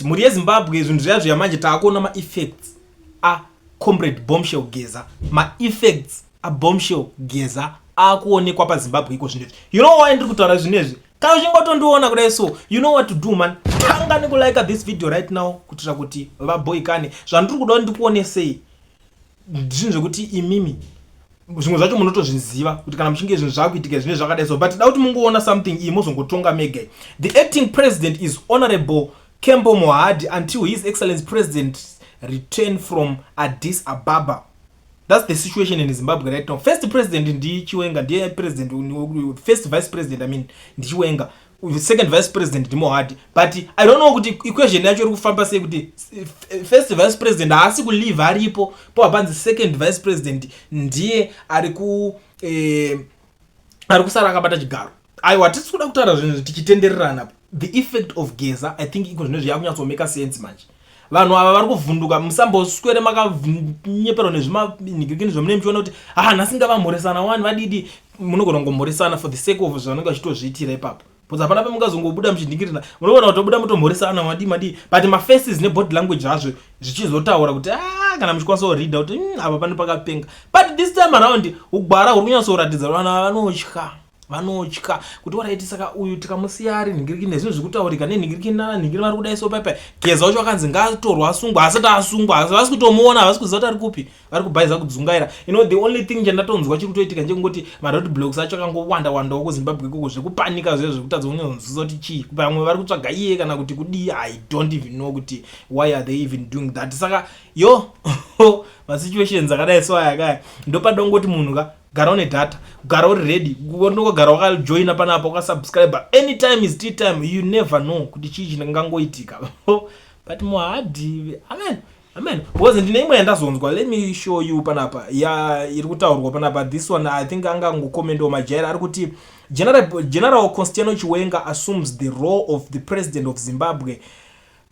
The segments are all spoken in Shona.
mhuri yezimbabwe zvinhu zviya zviya manje taakuona maeffects acomrade bombshell geza maeffects abombshell geza akuonekwa pazimbabwe iko zvinhu izvi you know why ndiri kutaura zvinhu izvi kana uchingotondiona kudai so you know what to do man tanga nekulike this video right now kuitira kuti vaboikane zvandiri kuda kuti ndikuonesei zvinhu zvekuti imimi zvimwe zvacho munotozviziva kuti kana muchinge zvinhu zvakuitika zvine zvakadai so but da kuti mungoona something iyi mozongotonga mega the acting president is honorable cambo mohadi until his excellence president return from addis ababa thats the situation in zimbabwe right now first president ndichiwenga ndiye president first vice president i mean ndichiwenga second vice president ndimohadi but i don't know kuti equation yacho iri kufamba sei kuti first vice president haasi kulive aripo po hapanzi second vice president ndiye ari ku eh, ari kusara akabata chigaro aiwa tisi kuda kutaura zvinhu tichitendererana the effect of geza i think iko zvino zviyakunyatsomeka sense manje Vanhu ava vari kuvhunduka musamboswere makanyeperwa nezvimanhikirikini zvamune muchiona kuti haa nhasi ngavamhoresana wani vadidi munogona kungomhoresana for the sake of zvanenge vachitozviitira ipapo bcause hapana pemungazongobuda muchinhikirina munogona kutobuda mutomhoresana madii madii but mafaces nebody language azvo zvichizotaura kuti aa kana muchikwanisa kurida kuti hmm, apa pane pakapenga but this time around ugwara huri kunyatsoratidza vana vanotya vanotya kuti waraiti saka uyu tikamusiya ari nhingiriki nezvinhu zvekutaurika nenhingiriki nanhingiri vari kudai so paipai geza wacho vakanzi ngaatorwa asungwa asati asungwa asi vasi kutomuona havasi kuziva kuti ari kupi vari kubhaiza kudzungaira you know the only thing chandatonzwa chiri kutoitika ndechekungoti marod blocks acho akangowanda wandawo kuzimbabwe ikoko zvekupanika zviya zvekutadza kunyonzvisa kuti chii vamwe vari kutsvaga iye kana kuti kudii i don't even know kuti why are they even doing that saka yo masituations akadai so ayakaya ndopadongoti munhu ka gara une data gara uri ready unogara wakajoina panapa ukasubscribe anytime is tea time you never know kuti chii chingangoitika but muhadhi amen amen because ndine imwe yandazonzwa let me show you panapa ya iri kutaurwa panapa this one i think anga angokomendawo majaira ari kuti general, general constiano chiwenga assumes the role of the president of zimbabwe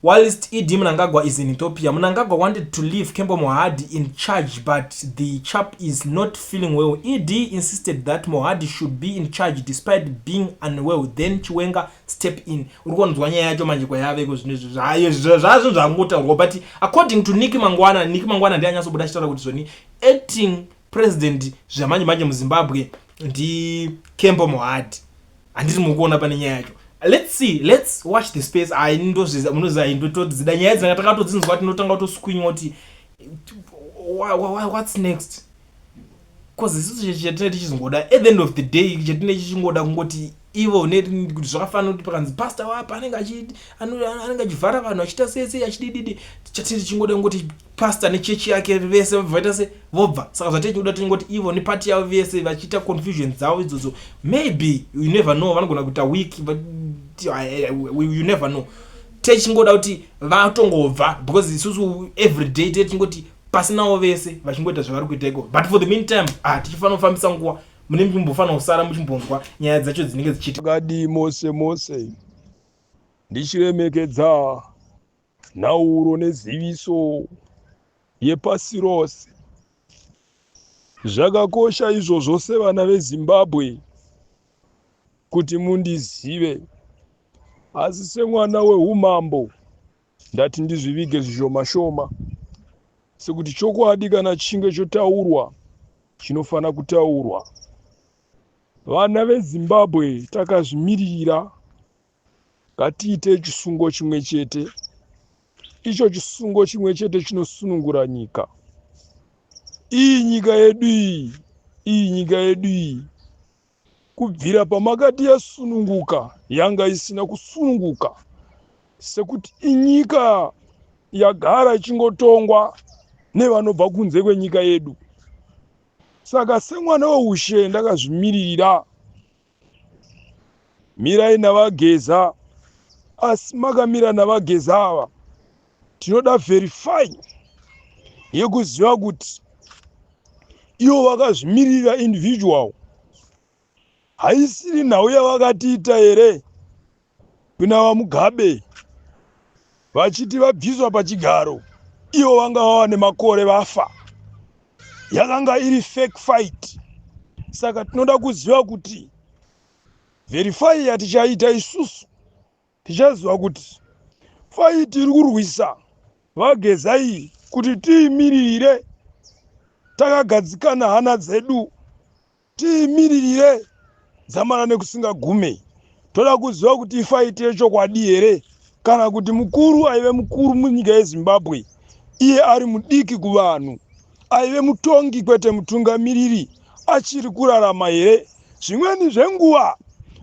Whilst ED Mnangagwa is in Ethiopia, Mnangagwa wanted to leave Kembo Mohadi in charge but the chap is not feeling well. ED insisted that Mohadi should be in charge despite being unwell then Chiwenga step in. Uri konzwa nyaya yacho manje kwayaveko zvinhu izvi zvayo zvazvo zvangotaurwa but according to Nick Mangwana, Nick Mangwana ndiye anyasobuda achitaura kuti zvoni acting president zvamanje manje muzimbabwe ndikembo mohadi handiti mukuona pane nyaya yacho let's see let's watch the space ai ndozviza munoziva i ndotodzida nyaya dzanga takatodzinzwa tinotanga kutoswinywa kuti what's next bcause isisu chatine tichingoda at the end of the day chatine chichingoda kungoti ivo ne kuti zvakafanira kuti pakanzi pastor wapo anenge achi anenge achivhara vanhu achiita sei sei achidididi chatiri chingoda kungoti pastor nechechi yake vese vaita se vobva saka zvatiri tinoda tingoti ivo nepati yavo vese vachiita confusion dzavo idzodzo maybe you never know vanogona kuita week but you never know tei chingoda kuti vatongobva because isusu every day tei tingoti pasinawo vese vachingoita zvavari kuita iko but for the meantime ah tichifanira kufambisa nguva mune muchimbofanira kusara muchimbonzwa nyaya dzacho dzinenge dzichiti akadii mose mose ndichiremekedza nhauro neziviso yepasi rose zvakakosha izvozvo sevana vezimbabwe kuti mundizive asi semwana weumambo Ndati ndizvivige zvishoma shoma sekuti chokwadi kana chinge chotaurwa chinofanira kutaurwa. Vana veZimbabwe takazvimiririra, ngatiite chisungo chimwe chete. Icho chisungo chimwe chete chinosunungura nyika. Iyi nyika yedu iyi, iyi nyika yedu iyi. Kubvira pamakati yasununguka yanga isina kusununguka sekuti inyika yagara ichingotongwa nevanobva kunze kwenyika yedu. Saka semwana weushe ndakazvimiririra. Mirai naVaGeza asi makamira naVaGeza ava. tinoda verify yekuziva kuti ivo vakazvimirira individual haisiri nhau yavakatiita here kuna vamugabe vachiti vabviswa pachigaro ivo vanga vava nemakore vafa yakanga iri fake fight saka tinoda kuziva kuti verify yatichaita isusu tichaziva kuti faiti iri kurwisa vageza iyi kuti tiimiririre takagadzikana hana dzedu tiimiririre dzamara nekusingagume toda kuziva kuti ifaiti yechokwadi here kana kuti mukuru aive mukuru munyika yezimbabwe iye ari mudiki kuvanhu aive mutongi kwete mutungamiriri achiri kurarama here zvimweni zvenguva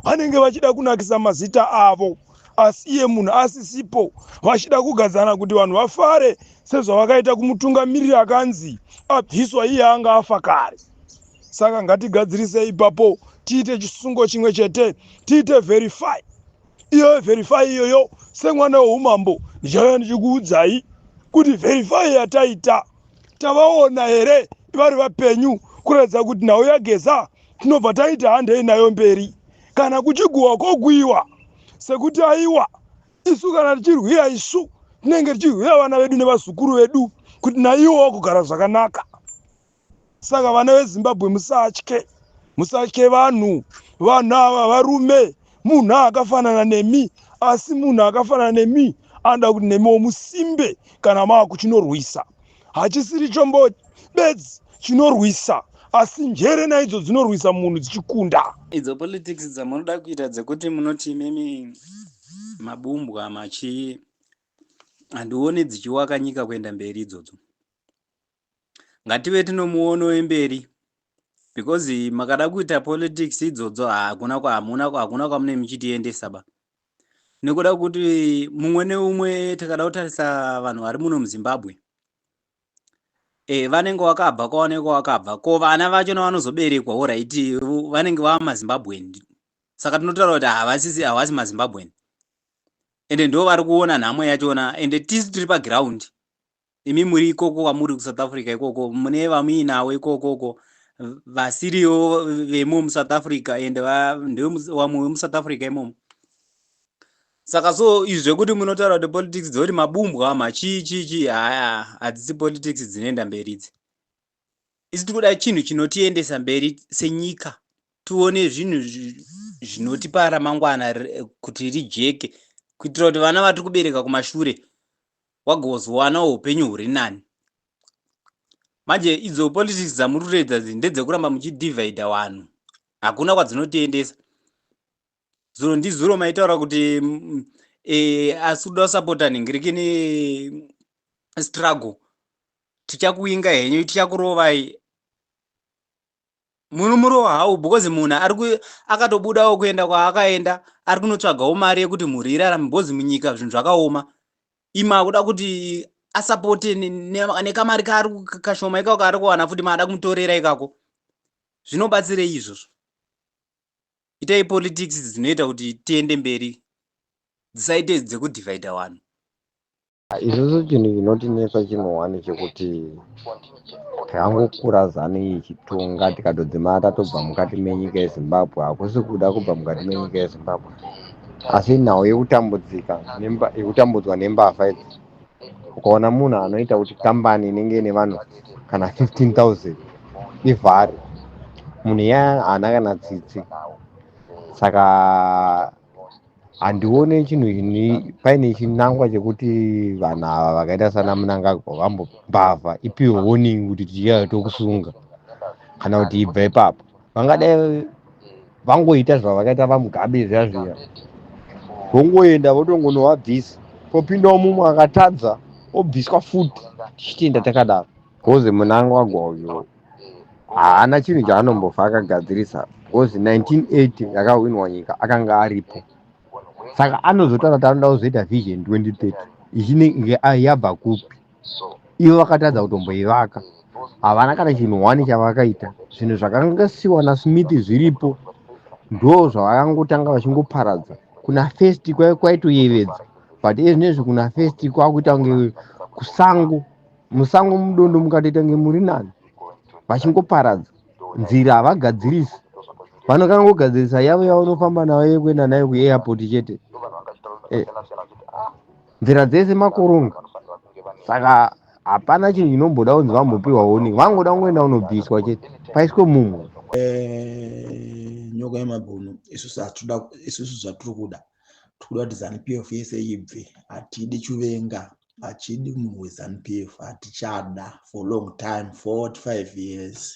vanenge vachida kunakisa mazita avo asi iye munhu asisipo vachida kugadzana kuti vanhu vafare sezvavakaita kumutungamiriri akanzi abviswa iye anga afa kare saka ngatigadzirise ipapo tiite chisungo chimwe chete tiite verify iyo verify iyoyo semwana weumambo ndichauya ndichikuudzai kuti verify yataita tavaona here vari vapenyu kuratidza kuti nhau yageza tinobva taita handei nayo mberi kana kuchiguhwa kwokuiwa sekuti aiwa isu kana tichirwira isu tinenge tichirwira vana vedu nevazukuru vedu kuti naiwo wakugara zvakanaka Saka vana veZimbabwe musatye, musatye vanhu, vanhu ava varume. Munhu akafanana nemi, asi munhu akafanana nemi anoda kuti nemiwo musimbe kana mava kuchinorwisa. Hachisiri chombo bedzi chinorwisa, asi njere naidzo dzinorwisa munhu dzichikunda. Idzo politics dzamunoda kuita dzekuti munoti imimi mabumbwa machii, handione dzichiwaka nyika kuenda mberi idzodzo. ngative tinomuono wemberi because makada kuita politics idzodzo hakuna kwamuna hakuna kwamune muchitiendesa ba nekuda kuti mumwe neumwe takada kutarisa vanhu vari muno muzimbabwe e, vanenge wakabva kwaoneka wakabva ko vana vacho navanozoberekwa oraiti vanenge vava mazimbabwen saka tinotaura kuti havasisi havasi mazimbabwen ende ndo vari kuona nhamo yachona ende tisu tiri paground imi muri ikoko kwamuri kusouth africa ikoko mune vamuinawo ikoko uko vasiriwo vemo musouth africa and ndewamwe wemusouth africa imomo saka so izvi zvekuti munotaura kuti politics dzekuti mabumbwa ma chii chii chii haya hadzisi politics dzinoenda mberi idzi isi tiri kuda chinhu chinotiendesa mberi senyika tione zvinhu zvinotipa ramangwana kuti rijeke kuitira kuti vana vatiri kubereka kumashure wagozowana upenyu huri nani manje idzo politics dzamuri kutoedza dzi ndedzekuramba muchidivhaidha vanhu hakuna kwadzinotiendesa zuro ndizuro maitaura kuti mm, eh, asi kuda kusapota nhingiriki ne struggle tichakuinga henyu tichakurovai muno murova hawo because munhu ari ku akatobudawo kuenda kwaakaenda ari kunotsvagawo mari yekuti mhuri irarame because munyika zvinhu zvakaoma imi akuda kuti asapote nekamari kaari kashoma ikako kaari kuwana futi maada kumutorera ikako zvinobatsirei izvozvo itai politics dzinoita kuti tiende mberi dzisaite dzekudivhaidha vanhu Isusu chinhu chinotinetsa chimwe wani chekuti tangokura zanu iyi ichitonga tikatodzimara tatobva mukati menyika yezimbabwe hakusi kuda kubva mukati menyika yezimbabwe asi nhau yekutambudzika yekutambudzwa nembavha idzi ukaona munhu anoita kuti kambani inenge ine vanhu kana 15000 ivhare munhu iya haana kana tsitsi saka handione chinhu ini paine chinangwa chekuti vanhu ava vakaita sana munangagwa vambombavha ipiwe warning kuti tichauya tokusunga kana kuti ibva ipapo vangadai vangoita zvavakaita vamugabe zviya zviya vongoenda votongonovabvisa popindawo mumwe akatadza obviswa futi tichitenda takadaro bcause munangagwa uyo haana chinhu chaanombofa akagadzirisa because 1980 yakahwinwa nyika akanga aripo saka anozotaura kuti anoda kuzoita vision 2030 ichinenge yabva kupi ivo vakatadza kutomboivaka havana kana chinhu one chavakaita zvinhu zvakanga siwa nasmith zviripo ndo zvavakangotanga vachingoparadza kuna first kwaitoyevedza but ezvinezvi kuna first kwakuita kunge kusango musango mudondo mukatoita kunge muri nani vachingoparadza nzira havagadzirisi vanokana kugadzirisa yavo yavanofamba nayo yekuenda nayo kuairport chete eh. nzira dzese makoronga saka hapana chinhu chinomboda kunzi vambopiwa warning vangoda kungoenda kunobviswa chete paiswe mumwe eh, nyoka yemabhunu isusu hatuda isusu zvatiri kuda tiri kuda kuti zanupf yese ibve hatidi chuvenga achidi munhu wezanu p f hatichada for long time 45 years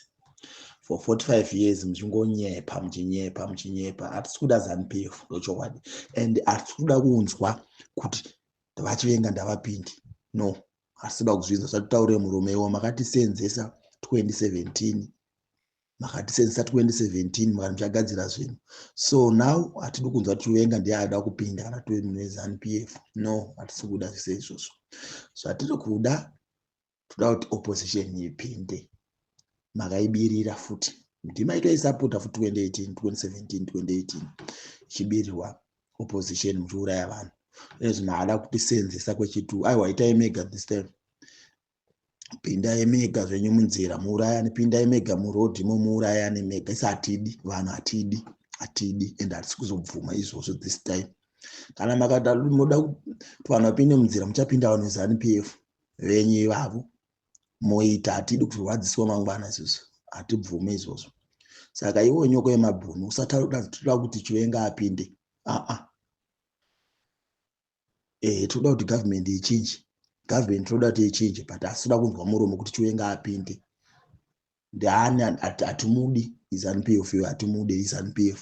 for 45 years muchingonyepa muchinyepa muchinyepa hatisi kuda zanu p f ndochokwadi and hatisi kuda kunzwa kuti vachivenga ndavapindi no hatisi kuda kuzvinzwa zvatitaure murume iwo makatisenzesa 2017 makati since 2017 makati muchagadzira zvinhu so now hatidi kunzwa tichivenga ndiye aida kupinda kana tive munhu wezanup f no hatisi kuda zvise izvozvo zvatiri kuda toda kuti opposition ipinde makaibirira futi kuti maitoisapota fu 2018 2017 2018 ichibirirwa opposition muchiuraya vanhu ezvino haada kutisenzesa kwechitu aiwa itai mega this time pindai mega zvenyu munzira muurayani pindai mega muroad imo muurayani mega isi hatidi vanhu hatidi hatidi and hatisi kuzobvuma izvozvo this time kana makada moda kuti vanhu vapinde munzira muchapinda vanhu zanu p f venyu ivavo moita hatidi kurwadziswa mangwana isusu hatibvume izvozvo saka iwo nyoko yemabhunu usataura kuti toda kuti chiwenga apinde aa eh tinoda kuti government ichinje government tinoda kuti ichinje but asida kunzwa muromo kuti chiwenga apinde ndani hatimudi izanupf iyo hatimude izanupf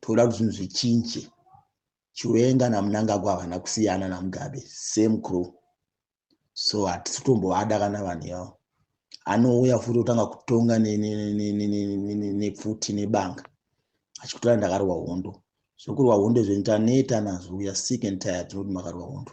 toda kuti zvinhu zvichinje chiwenga namunangagwa havana kusiyana namugabe same crew so hatisi kutombovada kana vanhu yavo anouya futi kutanga kutonga nepfuti nebanga achikutora ndakarwa hondo zvokurwa hondo zvenyu taneta nazvo uya sick and tired tinoti makarwa hondo